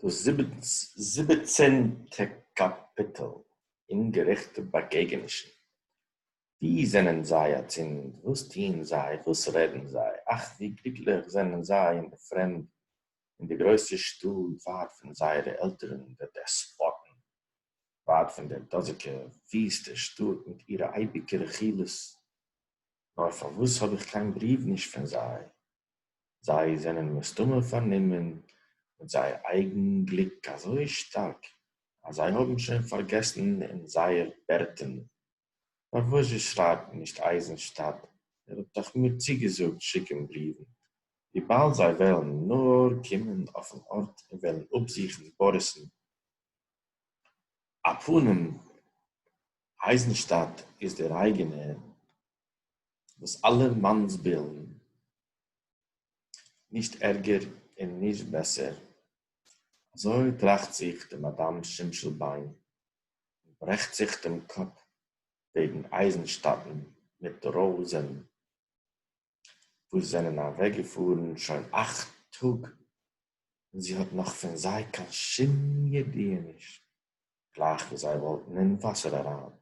דאָס זיבעצנטע קאַפּיטל, אומגערעכטע באַגעגענישן. וווּ זענען זיי אַצינד? וואָס טוען זיי? וואָס רעדן זיי? אַך, ווי גליקלעך זענען זיי אין דער פֿרעמד, אין דער גרויסער שטאָט, ווײַט פֿון זייערע עלטערן, די דעספּאָטן, ווײַט פֿון דער דאָזיקער וויסטער שטאָט מיט אירע אייביקע רכילות! נאָר פֿאַר וואָס האָב איך קיין בריוו נישט פֿון זיי? זיי זענען מסתמא פארנומען מיט זייער אייגן גליק אזוי שטארק אז זיי האבן שוין פארגעסן אין זייער בערטען פארוואס זי שרייבט נישט אייזענשטאט ער האט דאך מיר צוגעזאגט שיקען בריוון וויבאלד זיי וועלן נאר קומען אויפן ארט און וועלן אפזוכן באריסן א פנים אייזענשטאט איז דער אייגענער וואס אלע מאנסבילן, נישט ערגער און נישט בעסער, אזוי טראכט זיך די מאדאם שמש'ל ביין און ברעכט זיך דעם קאפ וועגן אייזנשטאטן מיט ראוזען, וואס זענען אוועקגעפארן שוין אכט טאג און זי האט נאך פון זיי קיין שום ידיעה נישט. גלייך ווי זיי וואלטן אין וואסער אריין,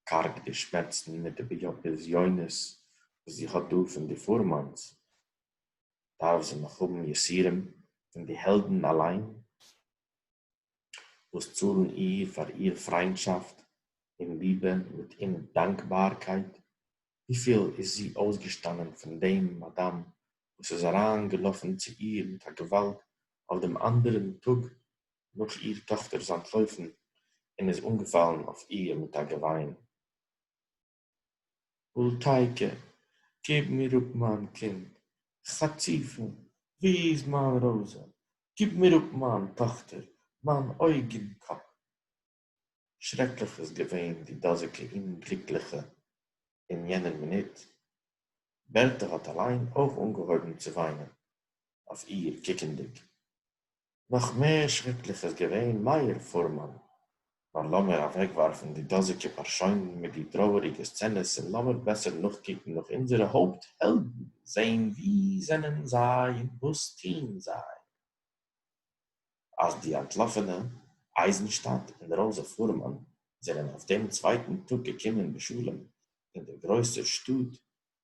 קארג די שמעצן מיט די בזיונות וואס זי האט דא פון די פורמאנס, דארף זי נאך האבן יסורים פון די העלדן אליין, וואס צאלן איר פאר איר פריינטשאפט און ליבע מיט אומדאנקבארקייט, וויפיל איז זי אויסגעשטאנען פון דעם מאדאם וואס איז אריין געלאפן צו איר מיט א געוואלד אויף דעם אנדערן טאג נאך איר טאכטער איז אנטלויפן און איז אנגעפאלן אויף איר מיט א געוויין. בולטעיקע, געב מיר אפ מיין קינד! חצופים, וואו איז מיין רויזע? געב מיר אפ מיין טאכטער, מיין אויגן קאפ! שרעקליך איז געווען די דאָזיקע אומגליקלעכע אין יענער מינוט. בערטע האָט אַליין אויך אָנגעהויבן צו וויינען, אויף איר קוקנדיק. נאָך מער שרעקליך איז געווען מאיר פורמאַן. נאָר לאָמיר אַוועקוואַרפן די דאָזיקע פּאַרשוינען מיט די טרויעריקע סצענעס און לאָמיר בעסער נאָכקוקן נאָך אונדזערע הויפּט-העלדן, זען וואו זענען זיי און וואָס טוען זיי. אז די אנטלאפענע אייזנשטאט און ראזע פורמאן זענען אויף דעם צווייטן טאג געקומען בשלום אין דער גרויסער שטאט,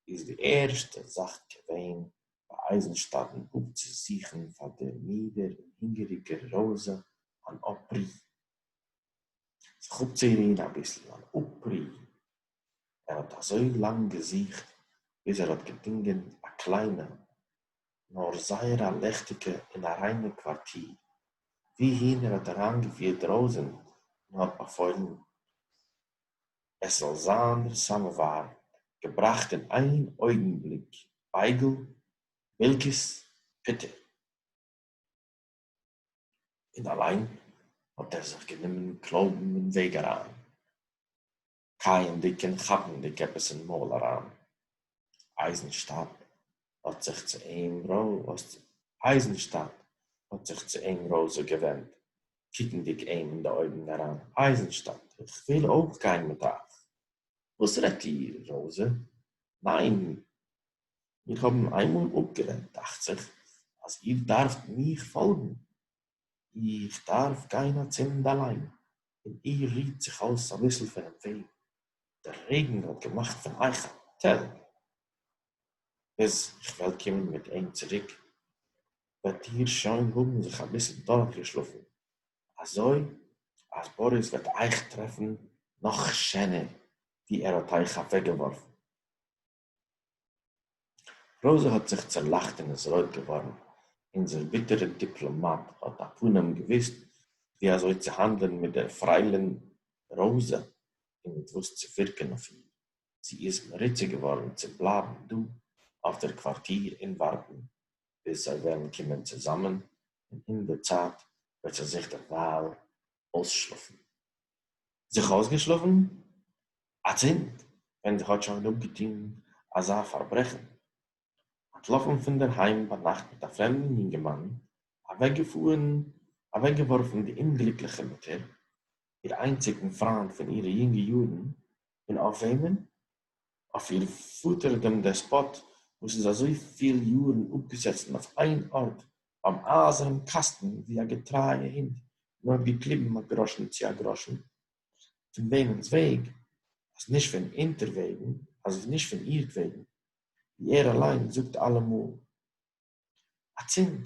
איז די ערשטע זאך געווען ביי אייזנשטאטן אפצוזוכן פאר דער מידער און הונגעריגער ראזע אן אפרי', זיך אפצורוהן אביסל, אן אפרי' ער האָט אַזױ לאַנג געזוכט, ביז ער האָט געפֿונגען אַ קלײנע, נאָר זײער אַ ליכטיקע און אַ רײנע קװאַרטיר, װוּהין ער האָט אַרײַנגעפֿירט ראָזען און האָט באַפֿױלן, עס זאָל זײַן דער סאַמאָװאַר געבראַכט אין אײן אױגנבליק, בײגל, מילקעס, פּוטער. און אַלײן האָט ער זיך גענומען קלױבן אין װעג אַרײַן. קייענדיג און כאפנדיג עפעס אין מויל אריין. אייזנשטאט האט זיך צו אים רא. אייזנשטאט האט זיך צו אים ראזע געווענדט, קוקנדיג אים אין די אויגן אריין, אייזנשטאט, איך וויל אויך גיין מיט אייך. וואס רעדט איר, ראזע? ניין, מיר האבן איינמאל אפגערעדט, דאכט זיך אז איר דארפט מיך פאלגן. איך דאַרף גײן אַצינד אַלײן. און איר רוט זיך אױס אַביסל פֿונעם װעג. דער רעגן האָט געמאַכט פֿון אײַך אַ טעל. ביז איך װעל קומען מיט אים צוריק, װעט איר שױן האָבן זיך אַביסל דורכגעשלאָפֿן, אַזױ אַז באָריס װעט אײַך טרעפֿן נאָך שענער, װי ער האָט אײַך אַװעקגעװאָרפֿן. רויזע האָט זיך צעלאַכט און איז רויט געװאָרן. אונדזער ביטערער דיפּלאָמאַט האָט אַ פּנים געװוּסט, װי אַזױ צו האַנדלען מיט דער פֿרײלין רויזע און מיט װאָס צו פֿירקען אױף איר. זי איז מרוצה געװאָרן צו בלײַבן דאָ אױף דער קװאַרטיר און װאַרטן, ביז זײ װעלן קומען צוזאַמען, און אין דער צײַט װעט זי זיך דערװײַל אױסשלאָפֿן. זיך אויסגעשלאפן? אצינד ווען זי האט שוין אפגעטון אזא פארברעכן, אנטלאפן פון דער היים ביינאכט מיט א פרעמדן יונגערמאן, אוועקגעפארן, אוועקגעווארפן די אומגליקליכע מוטער, איר איינציגן פריינד פון אירע יונגע יארן, און אויף וועמען אויף איר פאטער דעם דעספאט וואס איז אזוי פיל יארן אפגעזעצן אויף איין ארט ביים אייזערן קאסטן ווי א געטרייע הונט און האט געקליבן א גראשן צו א גראשן פון וועמענס וועג אז נישט פון אונטערוועגן אז נישט פון אירטוועגן ווי ער אליין זאגט אלעמאל. אַצינד,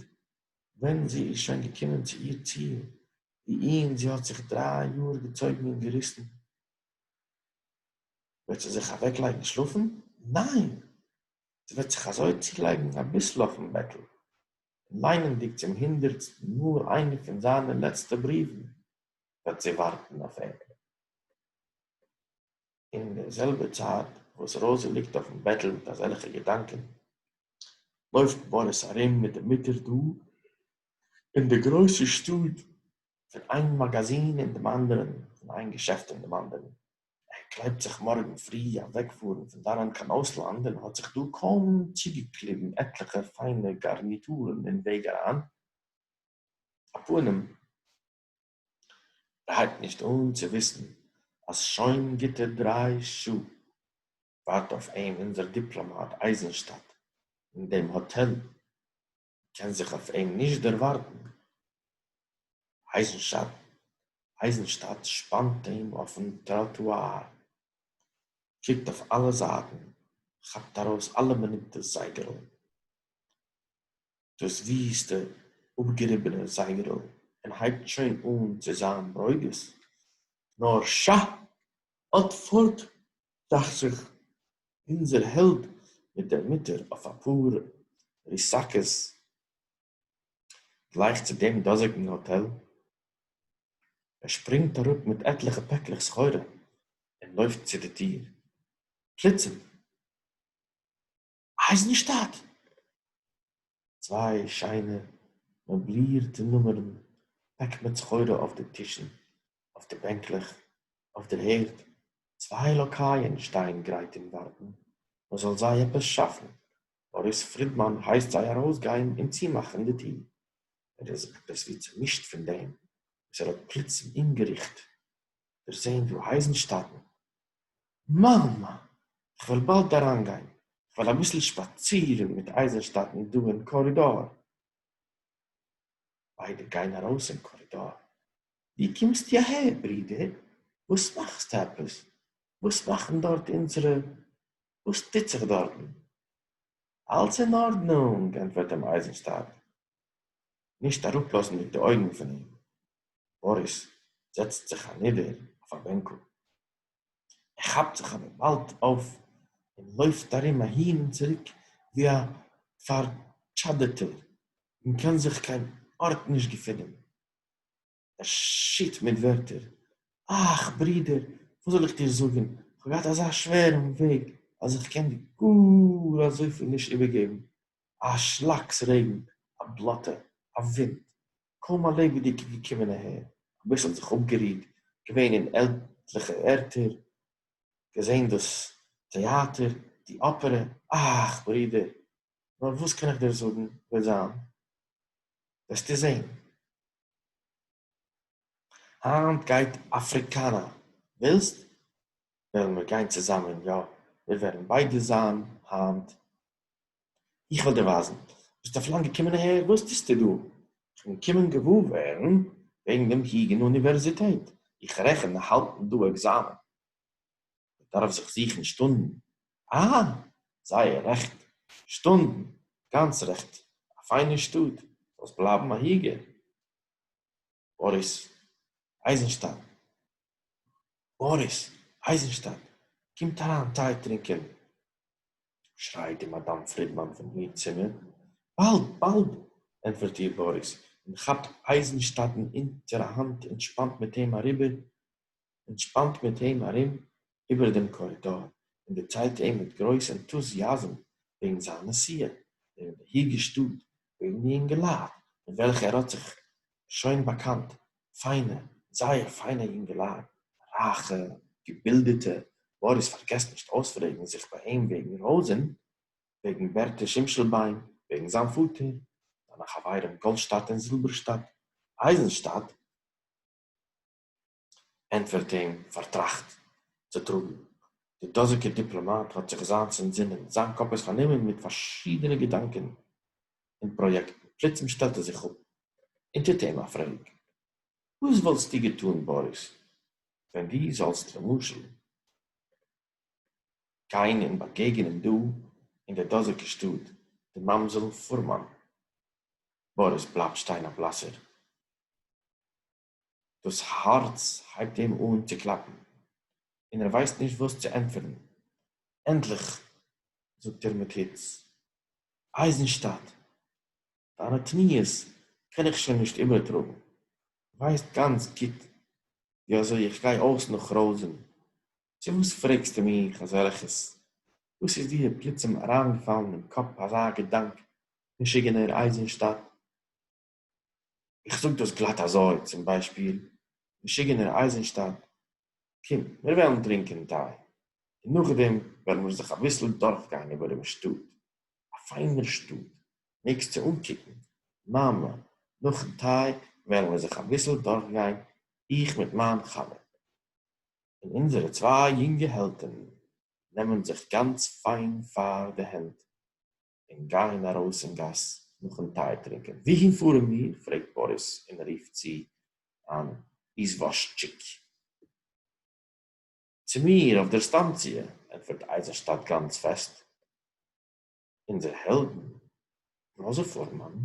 ווען זי איז שוין געקומען צו איר ציל, וואוהין זי האָט זיך דריי יאָר געצויגן און געריסן, וועט זי זיך אַוועקלייגן שלאָפן? ניין! זי וועט זיך אַזוי צולייגן אַ ביסל אויפן בעטל, און ליינענדיק צום הונדערטסטן מאָל איינע פון זיינע לעצטע בריוון, וועט זי וואַרטן אויף אים. אין דער זעלבער צייט וואס ראזע ליגט אויפן בעטל מיט אזעלכע געדאנקען, לויפט באריס ארום מיט די מוטער דא אין די גרויסע שטאט פון איין מאגאזין אין דעם אנדערן, פון איין געשעפט אין דעם אנדערן. ער קלייבט זיך מארגן פרי אוועקפארן פון דאנען קיין אויסלאנד און האט זיך דא קוים צוגעקליבן עטליכע פיינע גארניטורן אין וועג אריין. א פנים. הייבט נישט אן צו וויסן אז שוין גוטע דריי שעה ווארט אויף אים אונזער דיפלאמאט אייזנשטאט אין דעם האטעל, מ'קען זיך אויף אים נישט דערווארטן, אייזנשטאט שפאנט אים אויפן טראטואר, קוקט אויף אלע זייטן, כאפט ארויס אלע מינוט דאס זייגערל. דאס וויסטע אפגעריבענע זייגערל און הייבט שוין אן צו זיין ברוגז, נאר שאַ! אט פארט, טראכט זיך אונזער העלד מיט דער מוטער אויף א פאר ריסאקעס גלייך צו דעם דאזיגן האטעל, ער שפרינגט אראפ מיט עטליכע פעקלעך סחורה און לויפט צו די טיר, פלוצים! אייזנשטאט! צוויי שיינע מעבלירטע נומערן, פעקט מיט סחורה אויף די טישן, אויף די בענקלעך, אויף דער הערד, צוויי לאקייען שטייען גרייט און ווארטן מען זאל זיי עפעס שאפן, מאריס פרידמאן הייסט זיי ארויסגיין און צומאכן די טיר, ער איז עפעס ווי צומישט פון דעם וואס ער האט פלוצים אומגעריכט דערזען דא אייזנשטאטן, מאַמע, איך װעל באַלד אַרײַנגײן. איך װעל אַביסל שפּאַצירן מיט אײַזנשטאַטן דאָ אין קאָרידאָר. בײדע גײן אַרױס אין קאָרידאָר. װי קומסטו אַהער, ברודער? װאָס מאַכסטו עפּעס? װאָס מאַכן דאָרט אונדזערע? װאָס טוט זיך דאָרטן? אַלץ אין אָרדנונג, ענטפֿערט אים אײַזנשטאַט. נישט אראפלאזנדיג די אויגן פון אים, באריס זעצט זיך אנידער אויף א בענקל, ער כאפט זיך אבער באלד אויף און לויפט ארום אהין און צוריק ווי א פארטשאדעטער און קען זיך קיין ארט נישט געפינען. ער שיט מיט ווערטער, אך, ברודער, וואס זאל איך דיר זאגן, כ'האב געהאט אזא שווערן וועג, אז איך קען דיר גאר אזויפיל נישט איבערגעבן. א שלאקס רעגן, א בלאטע, א ווינט, קוים א לעבעדיגע געקומען אהער, אביסל זיך אפגערוהט, געווען אין עטליכע ערטער, געזען דאס טעאטער, די אפערע, אך, ברודער, נאר וואס קען איך דיר זאגן, וועט זיין, וועסטו זען, היינט גייט אפריקאנא, ווילסט? וועלן מיר גיין צוזאמען, יא, מיר וועלן ביידע זיין היינט. איך וועל דיר ווייזן. ביסט אויף לאנג געקומען אהער? וואס טוסטו דא? איך בין געקומען געוואר ווערן וועגן דעם היגען אוניווערזיטעט. איך רעכן האלטן דא עקזאמען. מען דארף זיך זוכן שטונדן. אהא, זייער רעכט, שטונדן, גאנץ רעכט, א פיינע שטאט, זאלסט בלייבן א היגער. באריס אייזנשטאט, באריס אייזנשטאט, קומט אריין טיי טרינקען! שרייט די מאדאם פרידמאן פון איר צימער. באלד, באלד! ענטפערט איר באריס, און כאפט אייזנשטאטן אונטער א האנט און שפאנט מיט אים אריבער און שפּאַנט מיט אים אַרום איבער דעם קאָרידאָר און דערציילט אים מיט גרויס ענטוזיאַזם וועגן זײַן נסיעה, וועגן די היגע שטאָט, וועגן די יונגעלײַט, מיט וועלכע ער האָט זיך שוין באַקאַנט, פֿײַנע, זייער פֿײַנע יונגעלײַט, רײַכע, געבילדעטע, מאָריס פֿאַרגעסט נישט אויספֿרעגן זיך בײַ אים וועגן ראָזען, וועגן בערטע שימשלבײן, וועגן זײַן פֿאָטער, זײַנע חבֿרים גאָלדשטאַט און זילבערשטאַט, אײַזנשטאַט. ענטפֿערט אים פֿאַרטראַכט צו טראָגן. דער דאָזיקער דיפּלאָמאַט האָט זיך זײַנס אַנטזינען. זײַן קאָפּ איז פֿאַרנומען מיט פֿאַרשידענע געדאַנקען און פּראָיעקטן. פּלוצעם שטעלט ער זיך אָפּ און טוט אים אַ פֿרעג, וואָס וואָלטסטו געטאָן, באָריס, ווען דו זאָלסט, למשל, גיין און באַגעגענען דאָ, אין דער דאָזיקער שטאָט, די מאַמזעל פֿורמאַן? באָריס בלײַבט שטיין אַ בלאַסער. דאס הארץ הייבט אים אן צו קלאפן, און ער ווייסט נישט וואס צו ענטפערן. ענדליך זאגט ער מיט היץ, אייזנשטאט, דיינע תמיהות קען איך שוין נישט איבערטראגן. ווייסט גאנץ גוט ווי אזוי איך גיי אויס נאך רויזען, צו וואס פרעגסטו מיך אזעלכעס? וואס איז דיר פלוצים אריינגעפאלן אין קאפ אזא געדאנק, משוגענער אייזנשטאט? איך זאג דאס גלאט אזוי, צום ביישפיל, משוגענער אייזענשטאט, קום, מיר וועלן טרינקען טיי, און נאכדעם וועלן מיר זיך אביסל דורכגיין איבער דעם שטאט. א פיינער שטאט, מעגסט צו אנקוקן, מאמע, נאכן טיי וועלן מיר זיך אביסל דורכגיין, איך מיט מיין חבר. און אונזערע צוויי יונגע העלדן נעמען זיך גאנץ פיין פאר די הענט, און גײען אַרױס אין גאַס נאָכן טײ טרינקען. װוּהין פֿאָרן מיר? פֿרעגט באָריס און רופֿט צו אַן איזװאָזשיק. צו מיר אױף דער סטאַנציע, ענטפֿערט אײזנשטאַט גאַנץ פֿעסט. אונדזער העלדן, ראָזע פֿאָרמאַן,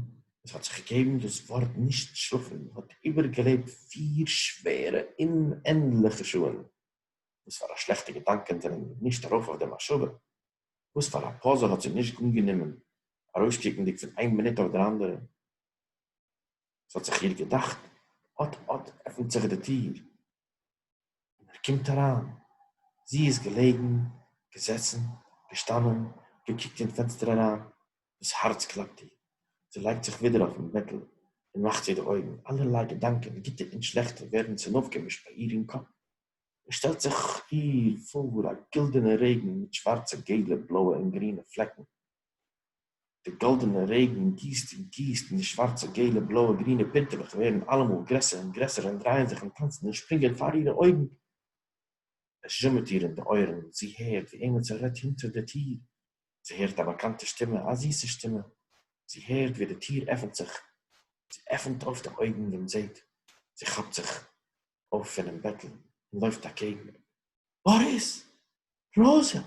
װאָס האָט זיך געגעבן דאָס װאָרט נישט שלאָפֿן, האָט איבערגעלעבט פֿיר שװערע אומענדלעכע שעה, װאָס פֿאַר אַ שלעכטע געדאַנקען זענען מיר נישט אַרױף אױף דער מחשבֿה. וואס פאר א פאזע האט זי נישט אנגענומען ארויסקוקנדיג פון איין מינוט אויף דער אנדערע? ס'האט זיך איר געדאכט, אט אט עפנט זיך די טיר און ער קומט אריין. זי איז געלעגן, געזעצן, געשטאנען, געקוקט אין פענסטער אריין, דאס הארץ קלאפט איר, זי לייגט זיך ווידער אויפן בעטל און מאכט צו די אויגן, אלערליי געדאנקען, גוטע און שלעכטע, ווערן צונויפגעמישט ביי איר אין קאפ. עס שטעלט זיך איר פאָר אַ גילדענער רעגן מיט שוואַרצע, געלע, בלויע און גרינע פלעקן. דער גאָלדענער רעגן גיסט און גיסט, און די שוואַרצע, געלע, בלויע, גרינע פּינטעלעך ווערן אַלעמאָל גרעסער און גרעסער און דרייען זיך און טאַנצן און שפּרינגען פאַר אירע אויגן. עס זשומעט איר אין די אויערן, זי הערט, ווי עמעצער רעדט הינטער דער טיר. זי הערט אַ באַקאַנטע שטימע, אַ זיסע שטימע. זי הערט, ווי די טיר עפנט זיך. זי עפנט אויף די אויגן און זעט. זי כאַפּט זיך. אויף פונעם בעטל און לויפט אקעגן אים, באריס! ראזע!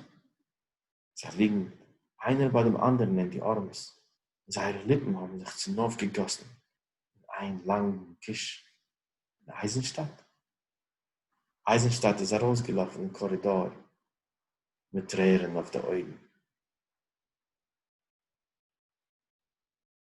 זיי ליגן איינער ביי דעם אנדערן אין די ארעמעס, און זייערע ליפן האבן זיך צונויפגעגאסן אין איין לאנגן קיש. און אייזנשטאט? אייזנשטאט איז ארויסגעלאפן אין קארידאר מיט טרערן אויף די אויגן.